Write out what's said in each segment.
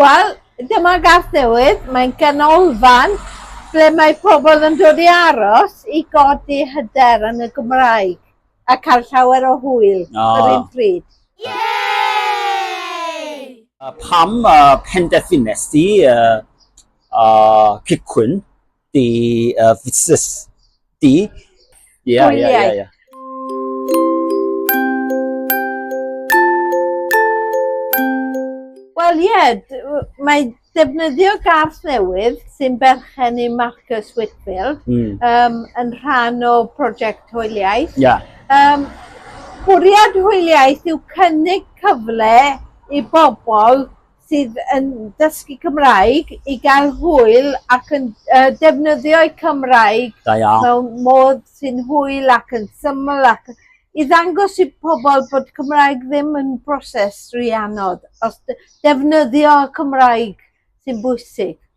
Wel, dyma Garth Newydd, mae'n ganolfan ble mae pobl yn dod i aros i godi hyder yn y Gymraeg a cael llawer o hwyl yr un pryd. Pam penderfynest ti cychwyn the uh, this the yeah, yeah, yeah, yeah. Wel ie, yeah, mae defnyddio garth newydd sy'n berchen i Marcus Whitfield mm. um, yn rhan o prosiect hwyliaeth. Yeah. Um, bwriad hwyliaeth yw cynnig cyfle i bobl sydd yn dysgu Cymraeg i gael hwyl ac yn uh, defnyddio'u Cymraeg da iawn. mewn modd sy'n hwyl ac yn syml ac i ddangos i pobl bod Cymraeg ddim yn broses rhy anodd, os defnyddio Cymraeg sy'n bwysig.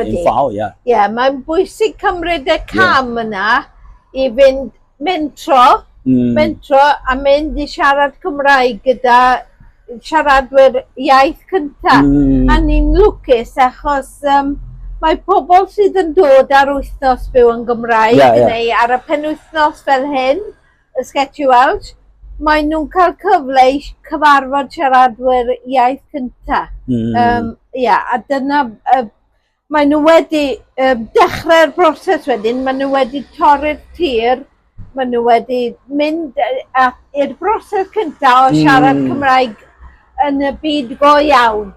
Yn fawr, ie. Ie, mae'n bwysig cymryd y cam yeah. yna i fynd mentro, mm. mentro a mynd i siarad Cymraeg gyda siaradwyr iaith cyntaf. Mm. A ni'n lwcus achos um, mae pobl sydd yn dod ar wythnos byw yn Gymraeg yeah, yeah. neu ar y penwythnos fel hyn, y Sgeti Welsh, maen nhw'n cael cyfle i cyfarfod siaradwyr iaith cyntaf. Mm. Um, ia, a dyna, uh, maen nhw wedi uh, dechrau'r broses wedyn, maen nhw wedi torri'r tir, maen nhw wedi mynd i'r broses cyntaf o siarad mm. Cymraeg yn y byd go iawn.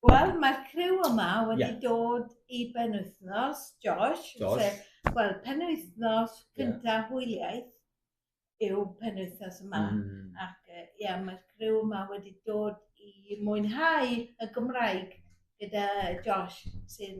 Wel, mae'r criw yma wedi yeah. dod i benwythnos, Josh, Josh. sef, wel, penwythnos cyntaf yeah. hwyliaeth yw penwythnos yma. Mm. Ac, ie, yeah, mae'r criw yma wedi dod i mwynhau y Gymraeg gyda Josh, sy'n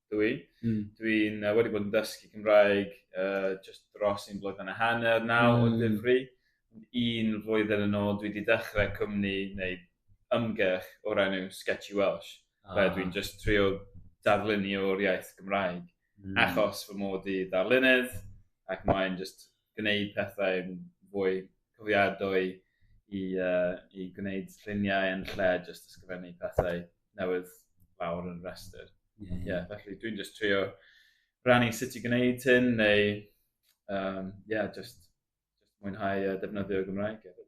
dwi. Mm. Dwi'n uh, wedi bod yn dysgu Cymraeg uh, just dros un blwyddyn a hanner naw mm. o ddifri. Un flwyddyn yn ôl, dwi wedi dechrau cwmni neu ymgyrch o'r enw Sketchy Welsh. Ah. Fe dwi'n just trio darlunio o'r iaith Gymraeg. Mm. Achos fy mod i darlunydd ac mae'n just gwneud pethau'n fwy cofiadwy i, uh, i gwneud lluniau yn lle jyst ysgrifennu pethau newydd lawr yn rhestr. Ie, yeah, yeah. felly dwi'n just trio rannu sut i gwneud hyn neu, um, yeah, just, just mwynhau uh, defnyddio Gymraeg hefyd.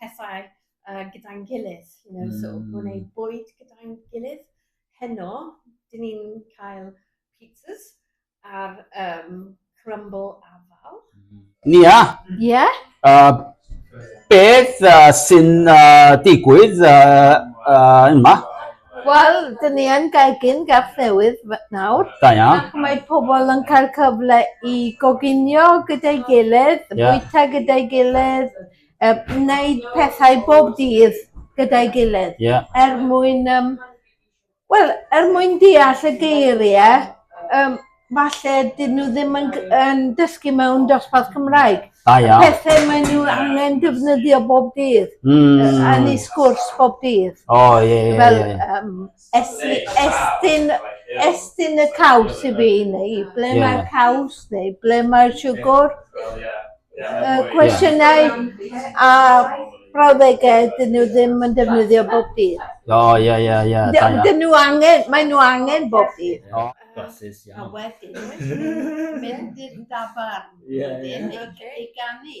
pethau uh, gyda'n gilydd. You know, mm. So hmm. gwneud bwyd gyda'n gilydd. Heno, dyn ni'n cael pizzas ar um, crumble afal. Hmm. Nia? Ie. Yeah. Uh, beth uh, sy'n uh, digwydd uh, uh, yma? Wel, dyn ni yn gegin gaf newydd nawr. Da ia. Ac mae pobl yn cael cyfle i goginio gyda'i gilydd, yeah. bwyta gyda'i gilydd, Yy wneud pethau bob dydd gyda'i gilydd. Ie. Er mwyn yym wel er mwyn deall y geirie yym falle 'dyn nhw ddim yn g- yn dysgu mewn dosbarth Cymraeg. Da iawn. Pethe mae nhw angen defnyddio bob dydd. Hmm. Yn eu sgwrs bob dydd. O ie ie ie. Fel yym Estyn, estyn, estyn y caws i fi, neu ble yeah. mae'r caws, neu ble mae'r siwgr. Uh, cwestiynau yeah. a brawddegau dyn nhw ddim yn defnyddio bob dydd. O, ie, ie, ie. Dyn nhw angen, maen nhw angen bob dydd. O, glasses, iawn. A wedyn, mynd i'r dafarn, wedyn, i ganu.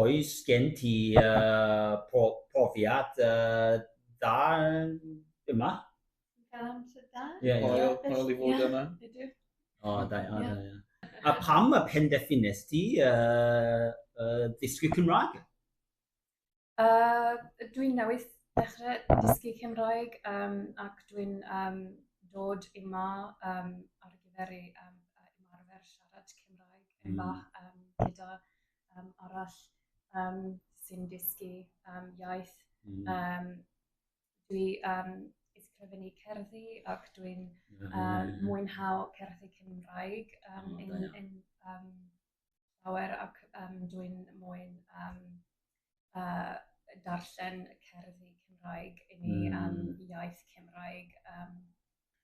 oes gen ti profiad da yma? Dwi'n cael amser da. Hwyl i fod yma. O, da iawn, da iawn. A pam y penderfynes ti ddysgu Cymraeg? Dwi newydd dechrau dysgu Cymraeg ac dwi'n dod yma ar gyfer ymarfer siarad Cymraeg bach gyda um, arall um, sy'n dysgu um, iaith. Mm. Um, dwi um, ysgrifennu cerddi ac dwi'n um, mwynhau cerddi Cymraeg um, oh, yn, yn um, llawer ac um, dwi'n mwyn um, uh, darllen cerddi Cymraeg i ni mm. um, iaith Cymraeg. Um,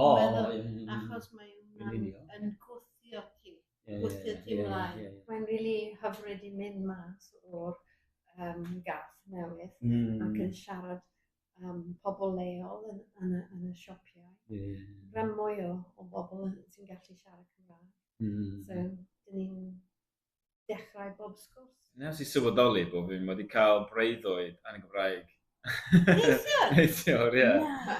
O, meddwl, yn union. achos mae Yn hwnna'n union. yn gwthio ti, Ie, gwthio ie, ti ie, mlaen. ie, ie. Mae'n rili hyfryd i mynd mas o'r um, gath newydd Mm, ac yn siarad am pobl leol yn, yn, y, yn y sioppiau. ie, Mae mwy o, o bobl yn- sy'n gallu siarad Cymraeg. mm. So, dyn ni'n dechrau bob sgwrs. Nes i sylweddoli bod fi wedi cael breuddwyd yn y Gymraeg. Neithiwr? Neithiwr, ie. Na.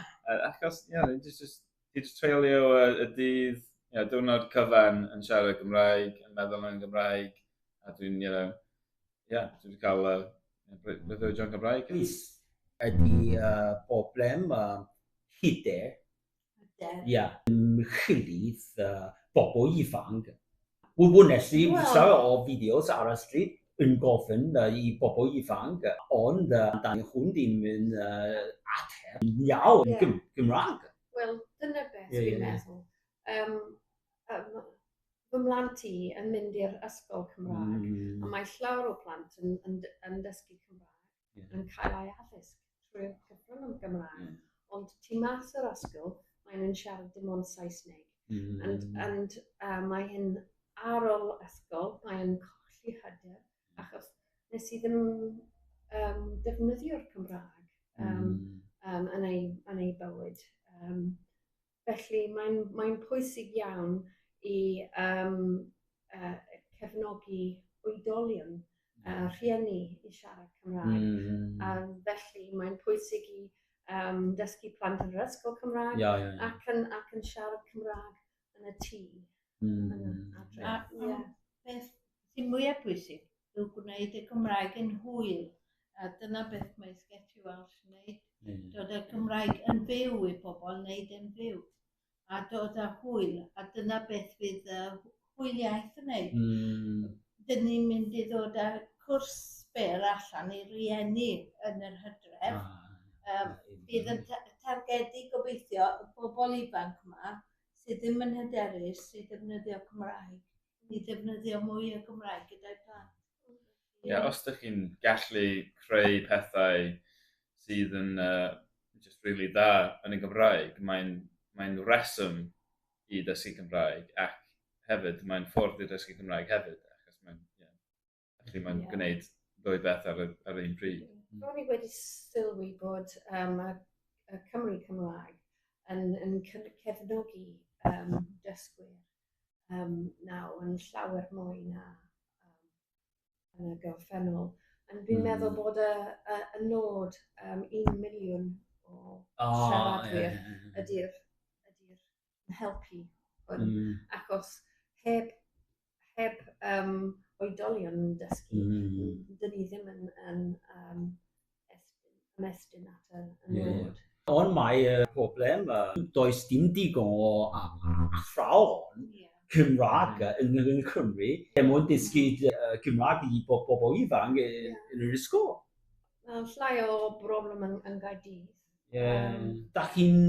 Achos, ie, yeah, just, just, just treulio y, y dydd, you know, diwrnod cyfan yn siarad Gymraeg, yn meddwl yn Gymraeg, a dwi'n, you know, ie, yeah, dwi'n cael uh, breuddwyd yn Gymraeg. Please. Ydy uh, problem uh, hyder Ie. Ie. Ymchwilydd bobl ifanc. Wel, wnes i bwysa o fideos ar y stryd yn gofyn i bobl ifanc, ond dan nhw ddim yn ateb yn iawn yn Gymraeg. Wel, dyna beth dwi'n meddwl. Fy mhlant i yn mynd i'r ysgol Cymraeg a mae llawer o plant yn dysgu Cymraeg. yeah. yn cael ei addysg trwy'r cyfrwng yn Gymraeg. Yeah. Ond tu mas o'r asgol, maen nhw'n siarad dim ond Saesneg. Mm. And, and uh, mae hyn ar ôl ysgol, mae'n colli hyder, achos nes i ddim um, defnyddio'r Cymraeg um, mm. um, yn, ei, yn ei bywyd. Um, Felly mae'n mae'n pwysig iawn i um, uh, cefnogi oedolion a uh, rhieni i siarad Cymraeg. Mm. A felly mae'n pwysig i um, dysgu plant yn yr ysgol Cymraeg yeah, yeah, yeah. Ac, yn, ac yn siarad Cymraeg yn y tŷ. Mm. Adre. A, a beth sy'n mwyaf bwysig yw gwneud y Gymraeg yn hwyl. A dyna beth mae Sketchy Welsh yn gwneud. Mm. Dod â'r Gymraeg yn fyw i bobl, wneud yn fyw. A dod â hwyl. A dyna beth fydd uh, hwyliaeth yn gwneud. Mm. Dyn ni'n mynd i ddod â cwrs byr allan i rieni yn yr hydref. Ah, um, bydd yn targedu gobeithio y bobl ifanc yma sydd ddim yn hyderus i ddefnyddio Cymraeg, i ddefnyddio mwy o Gymraeg gyda'i plant. Ie, yeah, os ydych chi'n gallu creu pethau sydd yn uh, just really da yn y Gymraeg, mae'n mae reswm i ddysgu Cymraeg ac hefyd mae'n ffordd i ddysgu Cymraeg hefyd, achos mae'n yeah, Felly mae'n yeah. gwneud ddwy beth ar, y, ar un pryd. Mm. Ro'n i wedi sylwi bod um, y, y Cymru Cymraeg yn, yn cefnogi um, dysgwyr um, nawr yn llawer mwy na um, yn y gorffennol. Ond fi'n mm. meddwl bod y, y, y nod um, un miliwn o oh, siaradwyr yeah. ydy'r ydy yn helpu hwn. Mm. Achos heb, heb um, oedolion yn dysgu, mm. dyn ni ddim yn, yn um, estyn, ymestyn at y nod. Ond mae y problem, uh, does dim digon o athrawon yeah. Cymraeg mm. yn, yn Cymru, er mwyn dysgu uh, Cymraeg i bob bobl ifanc yn yr ysgol. Mae llai o broblem yn, yn Gaerdydd. Ie. Da chi'n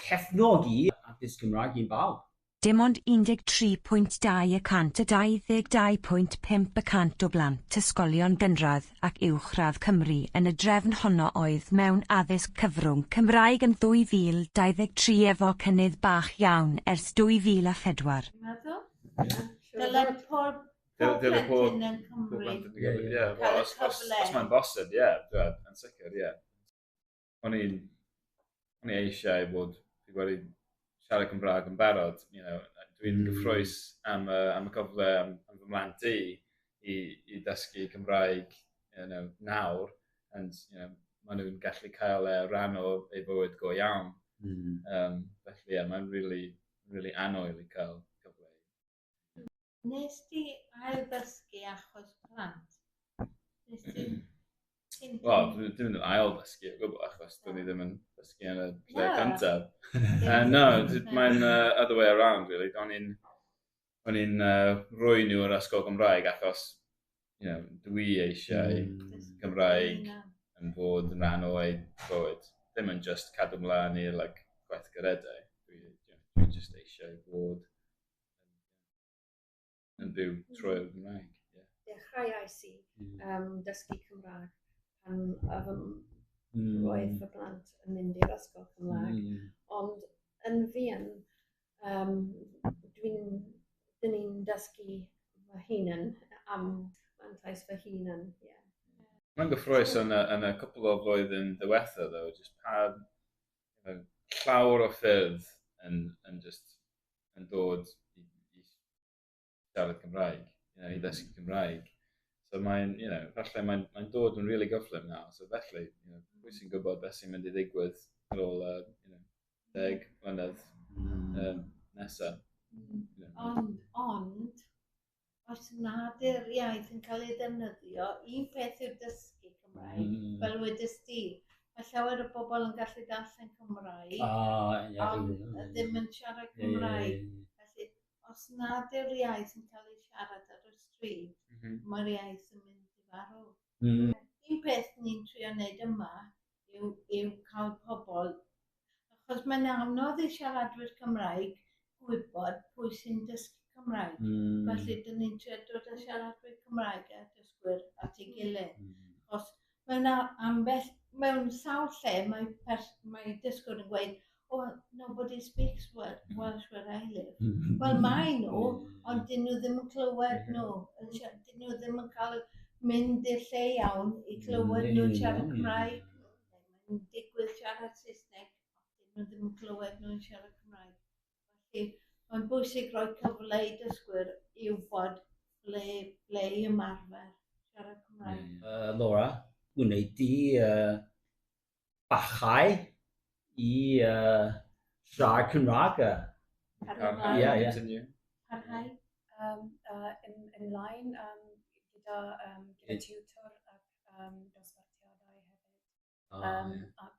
cefnogi addysg Cymraeg i bawb? Dim ond 13.2 y cant o 22.5 y cant o blant ysgolion gynradd ac uwchradd Cymru yn y drefn honno oedd mewn addysg cyfrwng Cymraeg yn 2023 efo cynnydd bach iawn ers 2004. Dwi'n meddwl. Dyle pob plentyn yn Cymru cael y cyfle. Os mae'n bosib, ie, yn sicr, ie. o'n i'n, o'n i eisiau bod, fi wedi siarad Cymraeg yn barod, you know, dwi'n mm. gyffroes am, uh, am y cyfle, am, am fy mlaen di, i, i dysgu Cymraeg you know, nawr, and you know, maen nhw'n gallu cael e rhan o ei bywyd go iawn. Mm. Um, felly, yeah, mae'n really, really anoel i cael cyfle Nes ti ail-ddysgu achos plant? Nes ti... Wel, dwi'n mynd yn ail-ddysgu o gwbl achos dwi'n ni ddim yn ddysgu yn y lle cyntaf. uh, no, mae'n uh, other way around, really. Do'n i'n... O'n i'n uh, rhoi nhw yr ysgol Gymraeg achos you know, dwi eisiau mm. Gymraeg yn bod yn rhan o'i bywyd. Ddim yn just cadw mlaen i'r like, gweithgaredau. Dwi, dwi just eisiau bod yn byw trwy'r Gymraeg. Yeah. Dechrauais i um, dysgu Cymraeg pan um, mm. roedd fy blant yn mynd i'r ysgol Cymraeg. Mm. Ond yn fi yn Yym dwi'n... Dyn ni'n dysgu fy hunan am mantais fy hunan, ie. Mae'n gyffrous yn y, yn y cwpl o flwyddyn ddiwetha ddo, jyst pa uh, llawr o ffyrdd yn, yn just yn dod i, i siarad Cymraeg, you know, i ddysgu mm. Cymraeg. So mae'n, you know, falle mae'n mae dod yn really gyflym nawr, so felly, you know, pwy sy'n gwybod beth sy'n mynd i ddigwydd ar ôl, uh, you know, deg mlynedd mm. um, nesaf. Mm. You know. Ond, ond, os nad yw'r iaith yn cael ei ddefnyddio, un peth yw'r dysgu Cymraeg, mm. fel wedys di, Mae llawer o bobl yn gallu darllen Cymraeg, oh, yeah, ond yeah, ddim yn siarad Cymraeg. Yeah, yeah. Felly, os nad yw'r iaith yn cael ei siarad ar y stryd, mm -hmm. mae'r iaith yn mynd i farw. Mm -hmm. Un peth ni'n trio wneud yma yw, yw cael pobl, achos mae'n anodd i siaradwyr Cymraeg gwybod pwy sy'n dysgu Cymraeg. Mm. Felly, dyn ni'n trio dod â siaradwyr Cymraeg a dysgwyr at ei gilydd. Mm. Achos Mae yna ambell, mewn sawl lle, mae, pers, mae dysgwr yn gweud, oh, nobody speaks Welsh where I live. Mm-hmm. Wel, mae nhw, ond dyn nhw ddim yn clywed mm-hmm. nhw. Dyn nhw ddim yn cael mynd i'r lle iawn i mm, clywed nhw'n siarad Cymraeg. Mae'n digwydd siarad Saesneg, dyn nhw ddim yn clywed nhw'n siarad Cymraeg. Felly, mae'n bwysig rhoi cyfle i dysgwyr i wybod ble, ble i ymarfer siarad Cymraeg. Uh, Laura, gwneud di uh, bachau i uh, siarad Cymraeg. Parhau. Ie, ie. Parhau. Um, uh, yn, yn lain um, gyda, um, gyda tutor ac um, dosbarthiadau hefyd. Um, ac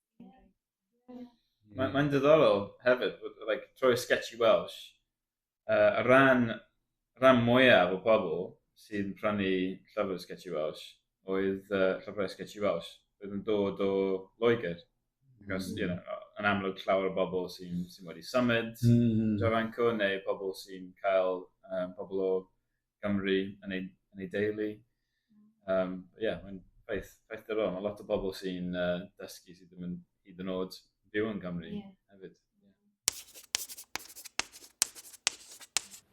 Mae'n mae ddiddorol hefyd, like, troi sketchy Welsh, uh, a ran, ran mwyaf o bobl sy'n prynu llyfr sketchy Welsh oedd uh, llyfrau sketchy Welsh, oedd yn dod o Loegr. Because, you know, yn amlwg llawer o bobl sy'n sy wedi symud mm. Jofanco neu pobl sy'n cael um, pobl o Gymru yn ei, yn ei deulu. Um, yeah, mae'n ffaith, ffaith dyro. Mae lot o bobl sy'n uh, dysgu sydd ddim yn hyd yn oed byw yn Gymru yeah. hefyd.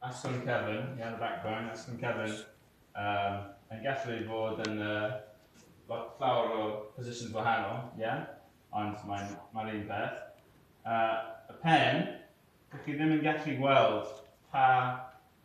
Aston Kevin, yeah, yn y background, Aston Kevin, um, yn gallu bod yn uh, lot llawer o positions wahanol, yeah? ond mae'n ma un peth. Uh, y pen, chi ddim yn gallu gweld pa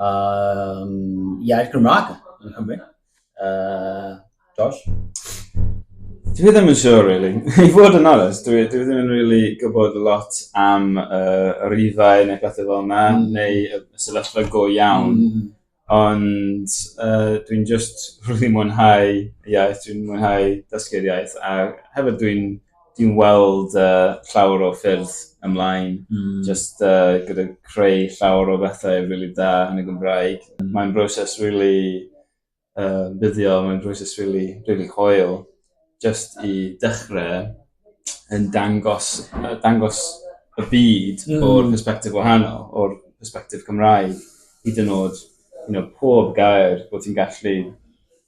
um, iaith Gymraeg yn Cymru. Uh, Josh? Dwi ddim yn siŵr, really. I fod yn onest, dwi, dwi ddim yn really gwybod lot am uh, yr ifau neu bethau fel yna, mm. neu y sefyllfa go iawn. Mm. Ond uh, dwi'n just really mwynhau iaith, dwi'n mwynhau dysgu'r iaith, a hefyd dwi'n dwi'n weld uh, llawer o ffyrdd ymlaen, mm. just uh, gyda creu llawer o bethau rili really da yn y Gymraeg. Mae'n broses rili really, uh, buddio, mae'n broses rili really, really coel, just i dechrau yn dangos, uh, dangos y byd mm. o'r perspektif wahanol, o'r perspektif Cymraeg, hyd yn oed you know, pob gair bod ti'n gallu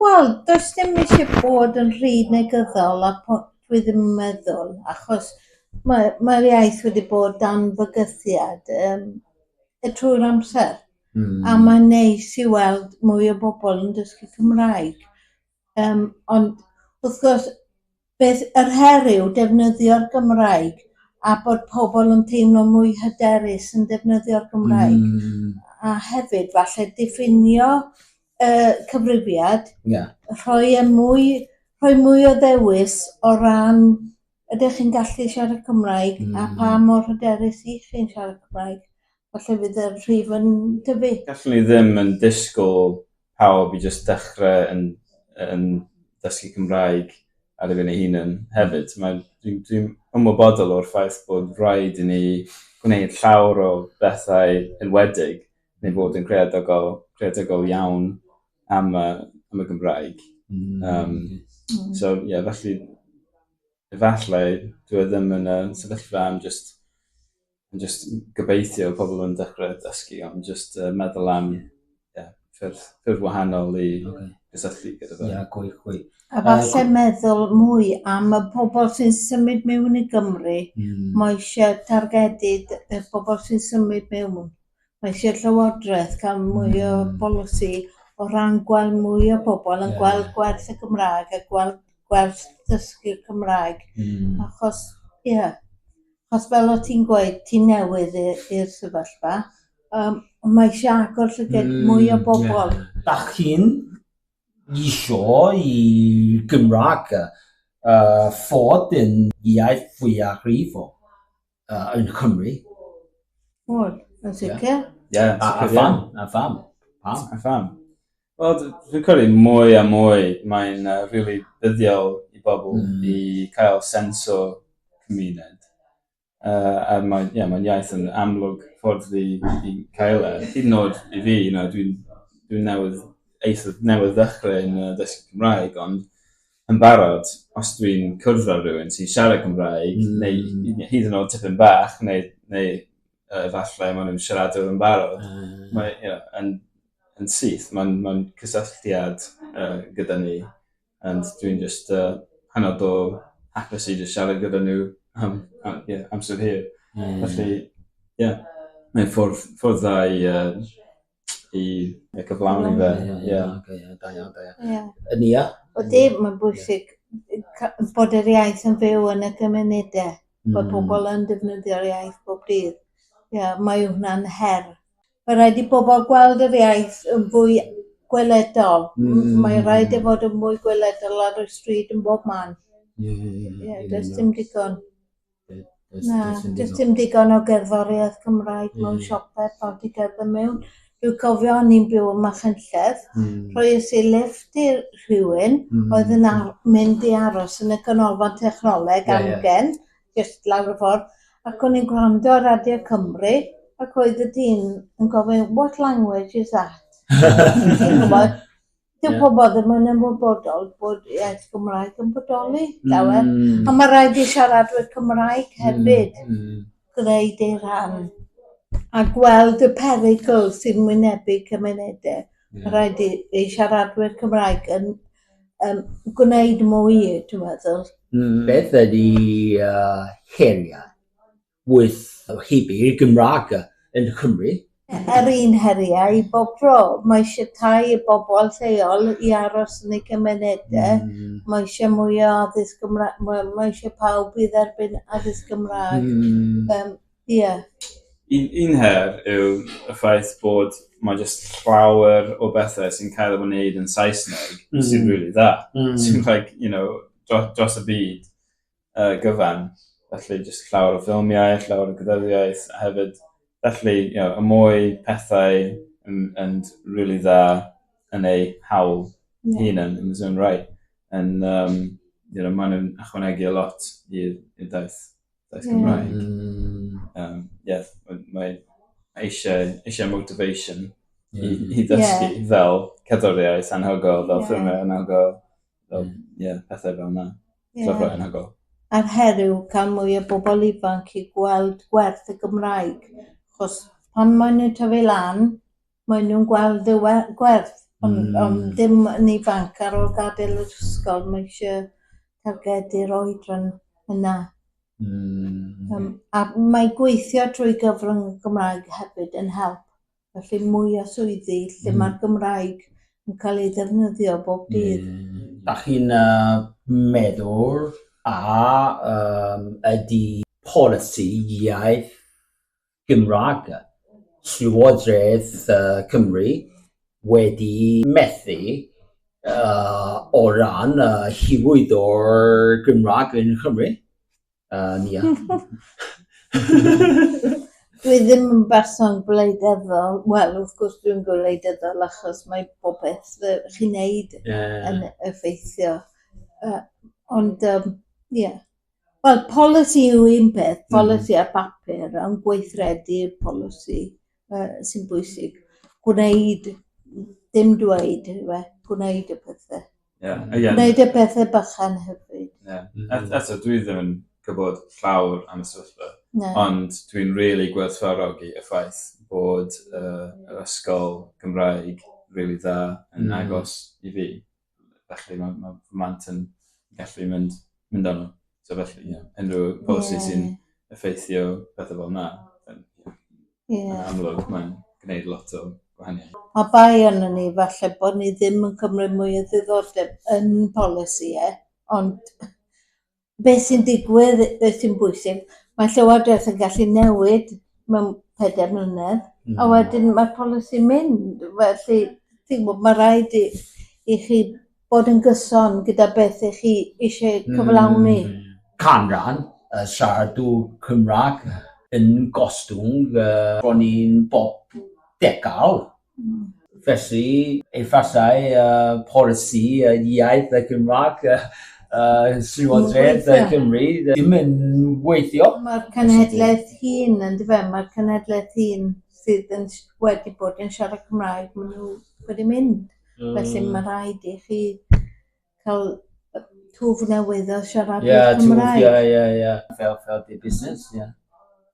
Wel, does dim eisiau bod yn rhy negyddol a po- dwi ddim yn meddwl, achos mae mae'r iaith wedi bod dan fygythiad yym y trwy'r amser. Mm. A mae'n neis i weld mwy o bobl yn dysgu Cymraeg. Um, ond wrth gwrs, Bydd yr her yw defnyddio'r Gymraeg a bod pobl yn teimlo mwy hyderus yn defnyddio'r Gymraeg. Mm. A hefyd falle diffinio y cyfrifiad. Ie. Rhoi e mwy, rhoi mwy o ddewis o ran ydych chi'n gallu siarad Cymraeg mm. a pa mor hyderus ych chi'n siarad Cymraeg. Falle fydd y rhif yn dyfu. Gallwn ni ddim yn disgwyl pawb i jyst dechrau yn, yn dysgu Cymraeg ar ei fyny hunan hefyd. Mae, dwi'n dwi ymwybodol o'r ffaith bod rhaid i ni gwneud llawr o bethau enwedig neu fod yn creadigol, creadigol iawn am y, am y Gymraeg. Mm. Um, mm. So, ie, yeah, felly, efallai, dwi e ddim yn y sefyllfa am just Yn just gobeithio pobl yn dechrau dysgu ond just uh, meddwl am yeah, ffyrdd, ffyrdd wahanol i okay. gysylltu gyda fe. Yeah, gwy, gwy. A falle uh, meddwl mwy am y pobl sy'n symud mewn i Gymru. Mm. Mae eisiau targedu y pobl sy'n symud mewn. Mae eisiau llywodraeth cael mwy mm. o hmm. bolisi o ran gweld mwy o bobl yn yeah. gweld gwerth y Gymraeg a gweld gwerth dysgu Cymraeg. Mm. Achos, ie, yeah, Achos fel o' ti'n gweud ti'n newydd i- i'r sefyllfa yym mae isie agor llyged mm, mwy o bobl. Yeah. Dach chi'n isio i Gymraeg uh, fod yn iaith fwyaf rhifo uh, yn Cymru? Wel, yn sicr. Yeah. Yeah, a, a pham? A pham? Pam? A pham? Wel, dwi'n credu mwy a mwy mae'n uh, really buddiol i bobl mm. i cael sens o cymuned. Uh, a mae'n yeah, mae iaith yn amlwg ffordd i, i cael e. Hyd yn oed i fi, you know, dwi'n dwi newydd, eithaf newydd ddechrau yn uh, dysgu Cymraeg, ond yn barod, os dwi'n cwrdd â rhywun sy'n siarad Cymraeg, mm. neu hyd yn oed tipyn bach, neu, neu uh, efallai maen nhw'n siaradwr yn barod. Uh. Mae, you know, yn, yn syth, mae'n ma cysylltiad uh, gyda ni. And dwi'n just uh, hanod o hapus i just siarad gyda nhw am, am, yeah, amser hir. Mm. Felly, ie, yeah, mae'n ffordd, ffordd dda i uh, i y cyflawni fe. Ie, ie, oce, ie, da iawn, da iawn. Ie. Yn ia? O di, mae'n bwysig bod yr iaith yn fyw yn y gymunedau, bod mm. pobl yn defnyddio'r iaith bob dydd. Ie, mae hwnna'n her. Mae rhaid i bobl gweld yr iaith yn fwy gweledol. Mm. Mae rhaid i e fod yn mwy gweledol ar y stryd yn bob man. Ie, ie, ie. Ie, does dim digon. Na, does dim digon o gerddoriaeth Cymraeg mewn siopau pan ti'n cerdded mewn. Dwi'n cofio o'n i'n byw yn Machynlleth, rhoies i lifft i rhywun oedd yn ar- mynd i aros yn y Canolfan Technoleg amgen, jyst lawr y ffordd, ac o'n i'n gwrando ar Radio Cymru, ac oedd y dyn yn gofyn 'what language is that?' Chi'n gwybod? Dyw yeah. pobl ddim yn ymwybodol bod iaith Gymraeg yn bodoli, dawe. Mm. A mae rhaid i siaradwyr Cymraeg mm, hefyd mm. Mm. gwneud ei rhan a gweld y perygl sy'n wynebu cymunedau. Yeah. Mae rhaid i, i siaradwyr Cymraeg yn um, gwneud mwy, dwi'n meddwl. Mm. Beth ydy uh, heriau? wyth o hybu i'r Gymraeg yn Nghymru. Yr un heriau i bob tro. Mae eisiau tai i bobl lleol i aros yn eu cymunedau. Mae eisiau mwy o addysg Gymraeg. Wel, mae eisiau pawb i dderbyn addysg Gymraeg. Yym, ie. Un, un her yw y ffaith bod mae jyst llawer o bethau sy'n cael ei wneud yn Saesneg sy'n rili dda. Sy'n like, you know, dros, dros y byd. uh, gyfan. Felly, jyst llawer o ffilmiau, llawer o gyddyddiaeth, a hefyd, felly, you know, y mwy pethau yn, yn really dda yn ei hawl yeah. hun yn, yn his own right. And, um, you know, maen nhw'n ychwanegu a lot i'r daith, daith yeah. Cymraeg. Mm. Um, yeah, mae eisiau, eisiau motivation i, mm-hmm. i ddysgu yeah. fel cadoriaeth anhygol, fel yeah. ffilmiau anhygol, fel, yeah, pethau fel yna. Ie. Fel rhai anhygol. A'r her yw cael mwy o bobl ifanc i gweld gwerth y Gymraeg, achos pan maen nhw'n tyfu lan, maen nhw'n gweld y we- gwerth, ond... Mm. ...ond ddim yn ifanc ar ôl gadael yr ysgol, mae eisiau targedu'r oedran yna. Mm. Yym, a mae gweithio trwy gyfrwng y Gymraeg hefyd yn help. Felly mwy o swyddi lle mm. mae'r Gymraeg yn cael ei ddefnyddio bob dydd. Mm. Da chi'n uh, meddwl a um, ydy polisi iaith Gymraeg Llywodraeth uh, Cymru wedi methu uh, o ran uh, hywyd o'r Gymraeg yn Cymru? Uh, Nia. Dwi ddim yn berson gwleidyddol. Wel, wrth gwrs dwi'n gwleidyddol achos mae popeth fy chi'n neud yeah. yn effeithio. Uh, ond, um, yeah. Wel, polisi yw un peth, hmm. polisi mm. a papur, ond gweithredu'r polisi. Yy sy'n bwysig. Gwneud, dim dweud, yw e. Gwneud y pethau. Ie. Ie. Gwneud y pethau bychan hefyd. Ie. Et- eto, dwi ddim yn gwybod llawr am y sefyllfa. Na. Ond dwi'n rili gwerthfawrogi y ffaith bod yy yr ysgol Gymraeg rili dda yn agos i fi. felly mae, mae fy mant yn gallu mynd, mynd arno. So felly, ie, yeah, unrhyw polisi yeah. sy'n effeithio pethau fel yna, yn yeah. amlwg mae'n gwneud lot o gwahaniaeth. A bai yn ni, falle bod ni ddim yn cymryd mwy o ddiddordeb yn polisi, e, ond beth sy'n digwydd, beth sy'n bwysig. Mae Llywodraeth yn gallu newid mewn pedair mlynedd, mm. a hmm. wedyn mae'r polisi'n mynd. Felly, ti'n gwybod, mae rhaid i, i chi bod yn gyson gyda beth ych chi eisiau hmm. cyflawni. Mm. Canran y siaradw Cymraeg yn gostwng uh, bron i'n bob degawd. Felly, efallai uh, polisi uh, iaith y Gymraeg uh, uh, Llywodraeth uh, Cymru ddim yn weithio. Mae'r cenedlaeth hun yn dyfa, mae'r cenedlaeth hun sydd yn, wedi bod yn siarad Cymraeg, maen nhw wedi mynd. Mm. Felly mae rhaid i chi cael twf newydd o siarad yeah, Cymraeg. Ie, yeah, ie, yeah, ie. Yeah. Fel, fel busnes, ie. Yeah.